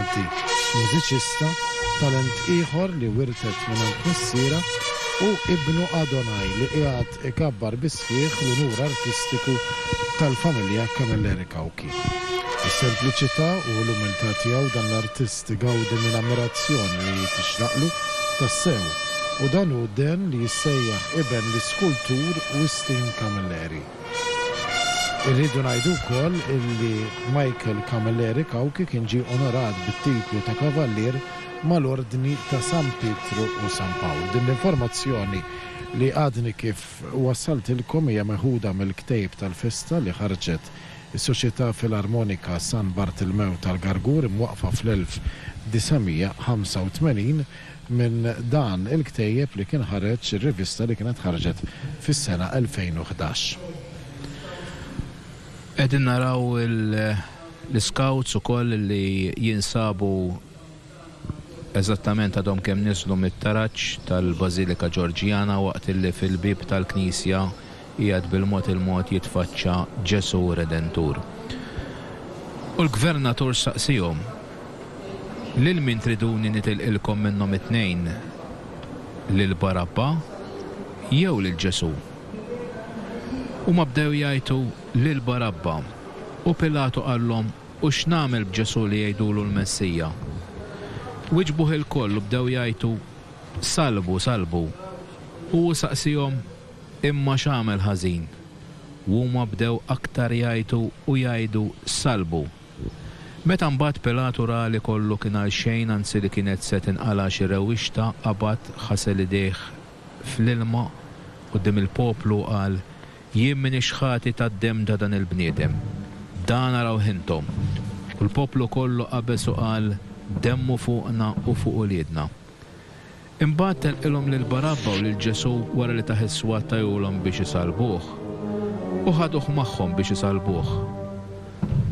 Mużiċista, talent ieħor li wirtet mingħand missierha hu ibnu Adonai li qiegħed ikabbar bis-sħiħ l-unur artistiku tal-familja Camilleri Cauchi. Bis-sempliċità u l-umiltà tiegħu dan l-artist igawdi minn ammirazzjoni li tixraqlu tassew u dan hu Dan li jissejjaħ iben l-iskultur Wistin Camilleri. Irridu ngħidu wkoll illi Michael Camilleri Cauchi kien ġie onorat bit-titlu ta' Kavallier mal-Ordni ta' San Pietru u San Pawl. Din l-informazzjoni li għadni kif wassaltilkom hija meħuda mill-Ktejb tal-Festa li ħarġet is-Soċjetà Filarmonika San Bartilmew tal-Gargur imwaqqfa fl-1985 minn dan il-ktejjeb li kien ħareġ ir-rivista li kienet ħarġet fis-sena 2011. Qegħdin naraw l-iskawts ukoll li jinsabu eżattament għadhom kemm niżlu mit-taraġ tal-Bażilika Ġorġjana waqt li fil-bieb tal-knisja Qiegħed bil-mod il-mod jitfaċċa Ġesù Redentur. U l-gvernatur saqsiehom, Lil min triduni nitilqilkom minnhom it-tnejn, lil Barabba jew lil Ġesù? Huma bdew jgħajtu, Lil Barabba! U Pilatu qallhom, U x'nagħmel b'Ġesù li jgħidulu l-Messija? Wiġbuh ilkoll u bdew jgħajtu, Salbu, salbu! U hu saqsiehom, Imma x'għamel ħażin? U huma bdew aktar jgħajtu u jgħidu, Sallbu! Meta mbagħad Pilatu ra li kollu kien għalxejn, anzi li kienet se tinqala' xi rewwixta, qabad, ħasel idejh fl-ilma quddiem il-poplu u qal, Jien m'iniex ħati tad-demm ta' dan il-bniedem. Dan arawh intom! U l-poplu kollu qabeż u qal, Demmu fuqna u fuq uliedna! Imbagħad tenqilhom lil Barabba u lil Ġesù wara li tah is-swat tajulhom biex isallbuh. U ħaduh magħhom biex isallbuh.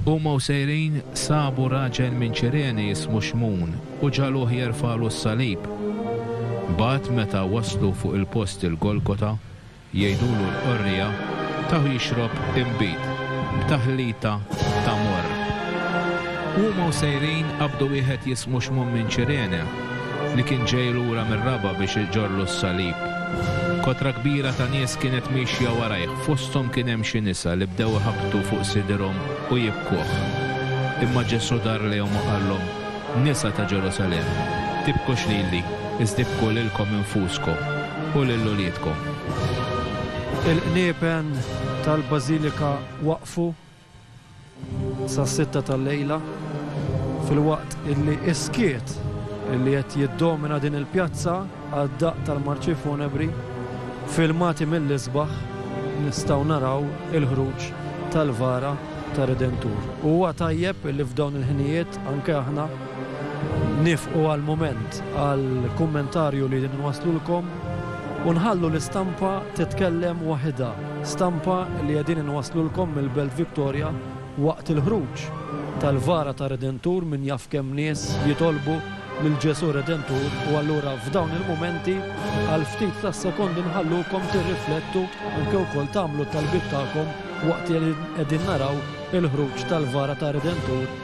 Huma u sejrin, sabu raġel minn Ċirene jismu Xmun u ġagħluh jerfagħlu s-salib. Mbagħad meta waslu fuq il-post il-Golgota, Jgħidulu l-qorrija taw jixrob inbid b'taħlita ta' morr. Huma u sejrin qabdu wieħed jismu Xmun minn Ċirene li kien ġej lura mir-raba' biex iġorlu s-salib. Kotra kbira ta' nies kienet miexja warajh, fosthom kien hemm xi nisa li bdew iħabbtu fuq sidirhom u jibkuh. Imma Ġesù dar lejhom u qallhom, Nisa ta' Ġerusalemm, tibkux lili, iżda ibku lilkom infuskom u lil uliedkom. Il-qniepen tal-bażilika waqfu sas-sitta tal-lejla, filwaqt illi s-skiet illi qed jiddomina din il-pjazza għad-daqq tal-marċi funebri, filmati mill-isbaħ, nistgħu naraw il-ħruġ tal-vara tar-Redentur. Huwa tajjeb illi f'dawn il-ħinijiet, Anke aħna nifqu għall-mument għall-kummentarju li nwaslulkom u nħallu l-istampa titkellem waħidha, stampa li qegħdin inwaslulkom mill-Belt Victoria waqt il-ħruġ tal-Vara tar-Redentur min jaf kemm nies jitolbu lil Ġesù Redentur u allura f'dawn il-mumenti għal ftit tas-sekondi nħallukom tirriflettu anke wkoll tagħmlu t-talbiet tagħkom waqt li qegħdin naraw il-ħruġ tal-Vara tar-Redentur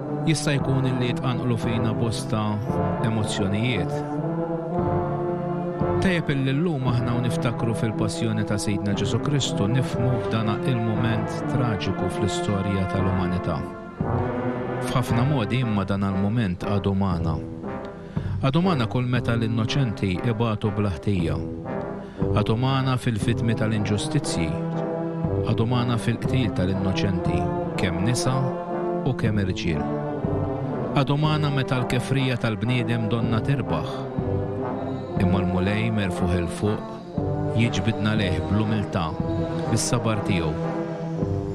Jista' jkun illi jitqanqlu fina bosta emozzjonijiet. Tajjeb illi llum aħna u niftakru fil-Passjoni ta' Sidna Ġesù Kristu nifhmu f'dana il-mument traġiku fl-istorja tal-umanità. F'ħafna modi imma dana l-mument għadu magħna. Għad umana kull meta l-innoċenti ibatu bla ħtija. Għad umana fil-vittmi tal-inġustizzji. Għad umana fil-qtil tal-innoċenti, kemm nisa u kemm irġiel. Għad umana meta l-kefrija tal-bniedem donnha tirbaħ. Imma l-Mulej merfugħ 'il fuq, Jiġbidna lejh bl-umiltà, bis-sabar tiegħu.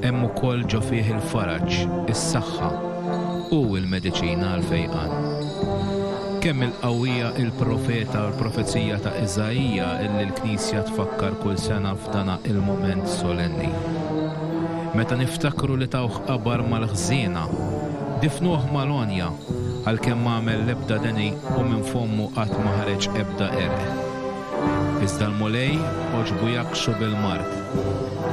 Hemm ukoll ġo fih il-faraġ, is-saħħa. Hu l-mediċina għall-fejqan. Kemm il-qawwija il-profeta u l-profezija ta' Iżaija illi l-Knisja tfakkar kull sena f'dana il-mument solenni. Meta niftakru li tawh qabar mal-ħżiena, difnuh mal-għonja, għalkemm m'għamel l-ebda deni u minn fommu qatt ma ħareġ ebda għerq. Iżda l-Mulej għoġbu jgħakksu bil-mard.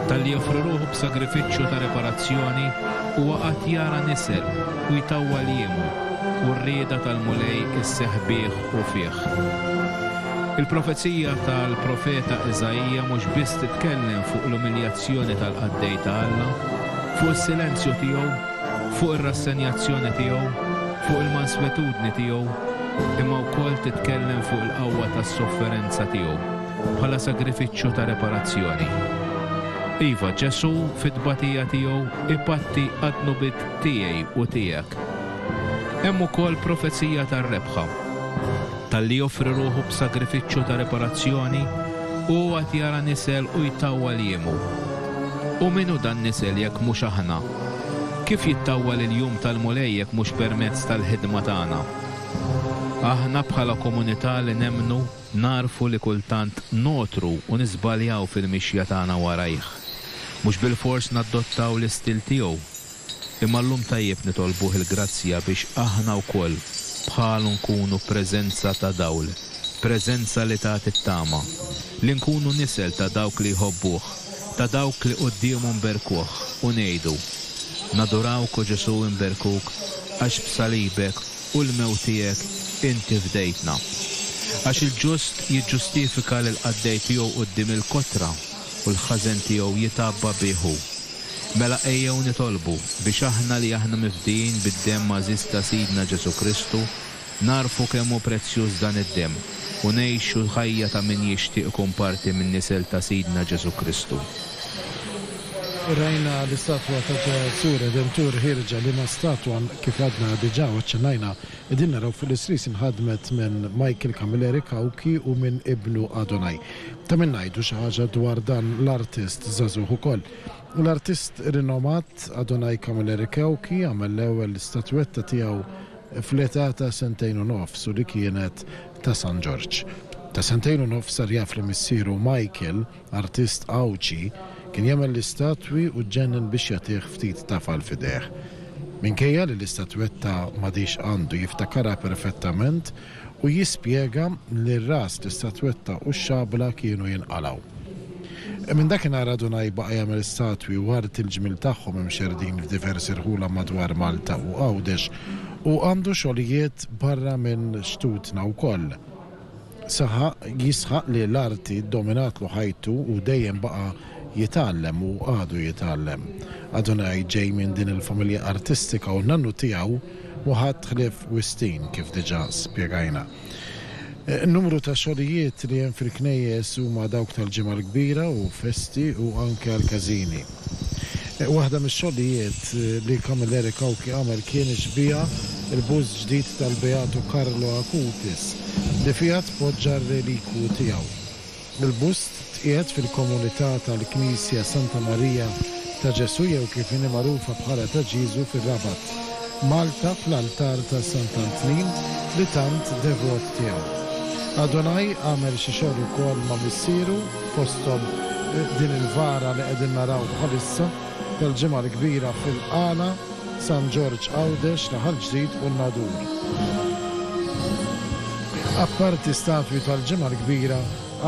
Talli joffri ruħu b'sagrifiċċju ta' riparazzjoni, huwa qagħad jara nisel u jtawwal jiemu, u r-rieda tal-Mulej isseħħ bih u fih. Il-profezija tal-profeta Iżaija mhux biss titkellem fuq l-umiljazzjoni tal-qaddej ta' Alla, fuq is-silenzju tiegħu, fuq ir-rassenjazzjoni tiegħu, fuq il-manswetudni tiegħu, imma wkoll titkellem fuq il-qawwa tas-sofferenza tiegħu bħala sagrifiċċju ta' reparazzjoni. Iva, Ġesù fit-tbatija tiegħu ipatti għad-dnubiet tiegħi u tiegħek. Hemm ukoll profezija tar-rebħa. Talli joffri ruħu b'sagrifiċċju ta' reparazzjoni, hu għad jara nisel u jtawwal jiemu. U min hu dan nisel jekk mhux aħna? Kif jittawwal il-jum tal-Mulej jekk mhux permezz tal-ħidma tagħna? Aħna bħala komunità li nemmnu nagħrfu li kultant ngħotru u niżbaljaw fil-mixja tagħna warajh. Mhux bilfors nadottaw l-istil tiegħu. Imma llum tajjeb nitolbuh il-grazzja biex aħna wkoll bħalu nkunu preżenza ta' dawl, preżenza li tagħti t-tama, li nkunu nisel ta' dawk li jħobbuh. Ta' dawk li quddiemu nberkuh u ngħidu, Nadurawk o Ġesù nberkuk għax b'salibek u l-mewt tiegħek inti fdejtna. Għax il-ġust jiġġustifika lill-qaddej tiegħu quddiem il-kotra u l-ħażen tiegħu jitgħabba bih hu. Mela ejjew nitolbu biex aħna li aħna mifdijin bid-demm għażiż ta' Sidna Ġesù Kristu, Nagħrfu kemm hu prezzjuż dan id-demm u ngħixu l-ħajja ta' min jixtieq ikun parti min-nisel ta' Sidna Ġesù Kristu. Rajna l-istatwa ta' Ġesù Redentur ħierġa. Liema statwa? Kif għadna diġà u aċċennajna, qegħdin naraw fuq l-isris inħadmet minn Michael Camilleri Cauchi u minn ibnu Adonai. Ta' min ngħidu xi ħaġa dwar dan l-artist żagħżugħ ukoll. L-artist rinomat Adonai Camilleri Cauchi għamel l-ewwel statwetta tiegħu fl-età ta' sentejn u nofs u li kienet ta' San Ġorġ. Ta' sentejn u nofs sar jaf li missieru Michael, artist Għawdxi, kien jagħmel l-istatwi u ġġennen biex jagħtih ftit tafal f'idejh. Minkejja li l-istatwetta m'għadhiex għandu jiftakarha perfettament u jispjega li r-ras, l-istatwetta u x-xabla kienu jinqalgħu. Minn dakinhar għadu Nai baqa' jagħmel istatwi u art il-ġmiel tagħhom imxerrdin f'diversi rħula madwar Malta u Għawdex u għandu xogħlijiet barra minn xtutna wkoll. Saħaq, jisħaq li l-arti ddominatlu ħajtu u dejjem baqa' Jitgħallem u għadu jitgħallem. Adonai ġej minn din il-familja artistika u n-nannu tiegħu mhu ħadd ħlief Wistin kif diġà spjegajna. Numru ta' xogħlijiet li hemm fil-knejjes huma dawk tal-Ġimgħa l-Kbira u festi u anke għall-każini. Waħda mix-xogħlijiet li Camilleri Cauchi għamel kien ixbieha l-bust ġdid tal-Beatu Carlo Acutis li fiha tpoġġa r-relikwu tiegħu. Il-bust tqiegħed fil-komunità tal-Knisja Santa Marija ta' Ġesù jew kif inhi magħrufa bħala ta' Ġieżu fir-Rabat, Malta fl-altar ta' Sant'Antnin li tant devot tiegħu. Adonai għamel xi xogħol ukoll ma' missieru fosthom din il-vara li qegħdin naraw bħalissa. tal-Ġimgħa l-Kbira fil-Qala, San Ġorġ Għawdex, Raħal Ġdid u n-Nadur. Apparti statwi tal-Ġimgħa l-Kbira,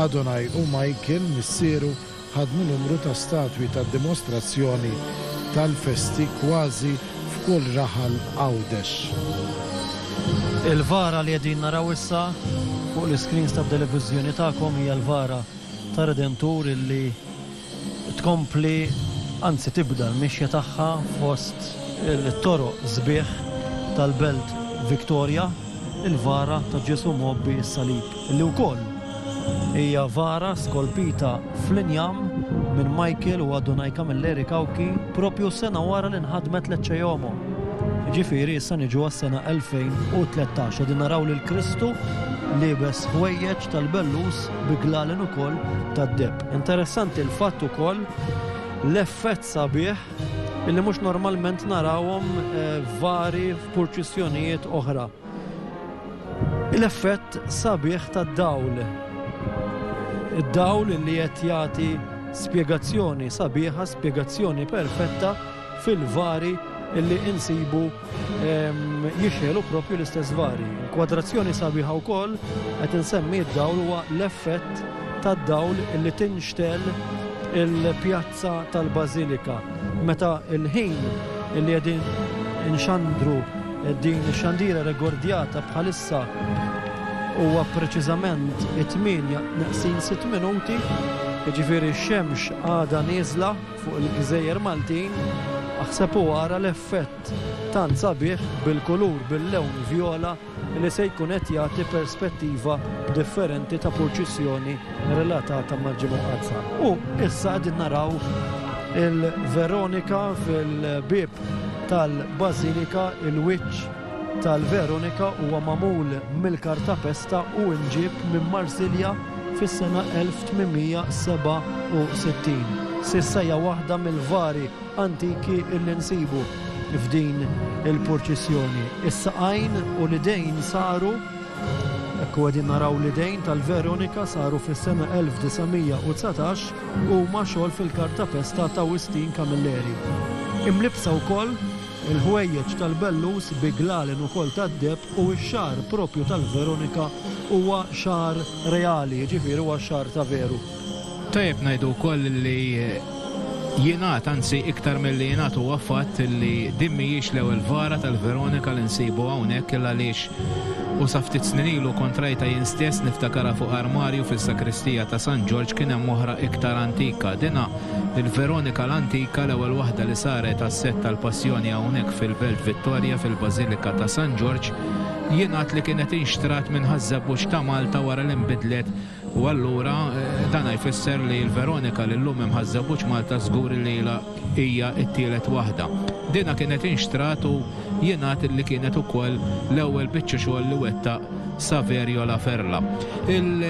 Adonai u Michael, missieru, ħadmu numru ta' statwi ta' dimostrazzjoni tal-festi kważi f'kull raħal Għawdex. Il-vara li qegħdin naraw issa fuq l-iskrins tat-televiżjoni tagħkom hija l-vara tar-Redentur illi tkompli, anzi tibda l-mixja tagħha fost it-toroq sbieħ tal-Belt Victoria, il-vara ta' Ġesù mgħobbi s-salib, li wkoll hija vara skolpita fl-injam minn Michael u Adonai Camilleri Cauchi proprju sena wara li nħadmet Lecce Iomo. Jiġifieri issa niġu għas-sena 2013 qegħdin naraw lil Kristu liebes ħwejjeġ tal-bellus bi glalen ukoll tad-deheb. Interessanti l-fatt ukoll l-effett sabiħ illi mhux normalment narawhom eh, vari f'purċissjonijiet oħra. L-effett sabiħ tad-dawl. Id-dawl li qed jagħti spjegazzjoni sabiħa, spjegazzjoni perfetta fil-vari illi insibu jixħelu propju l-istess vari. Kwadrazzjoni sabiħa wkoll qed insemmi d-dawl huwa l-effett tad-dawl li tinxtel il-pjazza tal-Bażilika. Meta l-ħin li qegħdin inxandru din ix-xandira regordjata bħalissa huwa preċiżament 8 naqsin 6 minuti, jiġifieri x-xemx għadha nieżla fuq il-gżejjer Maltin, aħseb u ara l-effett tant sabiħ bil-kulur bil-lewn vjola li se jkun qed jagħti perspettiva differenti ta' purċissjoni relatata mal-Ġimgħa Mqaddsa. U issa qegħdin naraw il-Veronika fil-bieb tal-Bażilika, il-wiċċ tal-Veronika huwa magħmul mill-kartapesta u nġieb minn Marsilja fis-sena 1867. S'issa hija waħda mill-vari antiki li nsibu f'din il-purċissjoni. Is-saqajn u l-idejn saru, hekk u qegħdin naraw l-idejn tal-Veronika saru fis-sena 1919, huma xogħol fil-kartapesta ta' Wistin Camilleri. Imlibbsa wkoll Il-ħwejjeġ tal-bellus bi glalen ukoll tad-deheb u x-xagħar proprju tal-veronika huwa xagħar reali, jiġifieri huwa xagħar ta' veru. Tajjeb ngħidu wkoll li jingħad, anzi iktar milli jingħad huwa fatt li din mhijiex l-ewwel vara tal-veronika li nsibu hawnhekk il-għaliex u sa ftit snin ilu kont rajtha jien stess niftakarha fuq armarju fis-sakristija ta' San Ġorġ kien hemm oħra iktar antika, dinha Il-Veronika l-Antika, l-ewwel waħda li saret għas-sett tal-Passjoni hawnhekk fil-Belt Vittoria fil-Bażilika ta' San Ġorġ, jingħad li kienet inxtrat minn Ħaż-Żebbuġ ta' Malta wara li nbidlet u allura dan jfisser li l-Veronika li llum hemm Ħaż-Żebbuġ Malta żgur li ilha hija t-tielet waħda. Dinha kienet inxtrat u jingħad li kienet ukoll l-ewwel biċċa xogħol li wettaq Saverio La Ferla. Il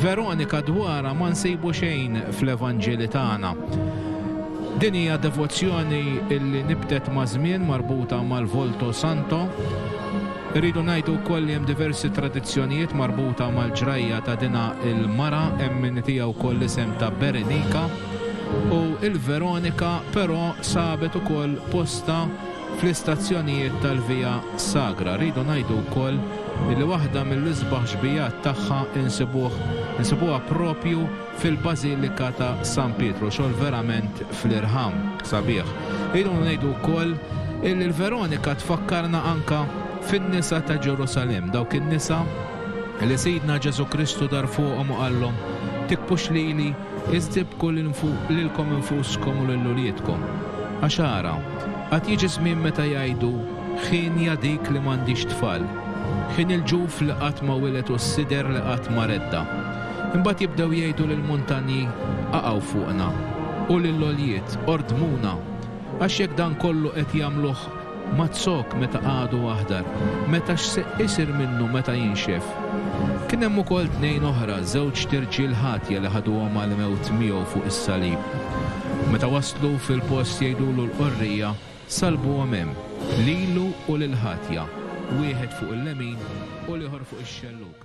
Veronika dwarha ma nsibu xejn fl-Evanġeli tagħna. Din hija devozzjoni li nibtet maż-żmien marbuta mal-Volto Santo. Irridu ngħidu wkoll li hemm diversi tradizzjonijiet marbuta mal-ġrajja ta' dinha l-mara, hemm min itiha wkoll l-isem ta' Berenika. U l-Veronika però sabet ukoll postha Fl-istazzjonijiet tal-Via Sagra rridu ngħidu wkoll li waħda mill-isbaħ xbijat tagħha insibuh insibuha proprju fil-Bażilika ta' San Pietru, xogħol verament fl-irħam, sabiħ. Rridu ngħidu wkoll illi l-Veronika tfakkarna anke fin-nisa ta' Ġerusalemm, dawk in-nisa li Sidna Ġesù Kristu dar fuqhom u qallhom, Tikbux lili, iżda ibku lilkom infuskom u lil uliedkom. Għax ara, Għad jiġi żmien meta jgħidu, Hienja dik li m'għandix tfal. Hien il-ġuf li qatt ma wilet u s-sider li qatt ma redda. Imbagħad jibdew jgħidu lill-muntanji, Qaqgħu fuqna, u lill-għoljiet, Ordmuna! Għax jekk dan kollu qed jagħmluh ma' zokk meta għadu aħdar, meta x'se isir minnu meta jinxef? Kien hemm ukoll tnejn oħra, żewġt irġiel ħatja li ħaduhom għall-mewt miegħu fuq is-salib. Meta waslu fil-post jgħidulu l-qorrija, Salbuhom hemm, lilu u lill-ħatja, wieħed fuq il-lemin u l-ieħor fuq ix-xellug.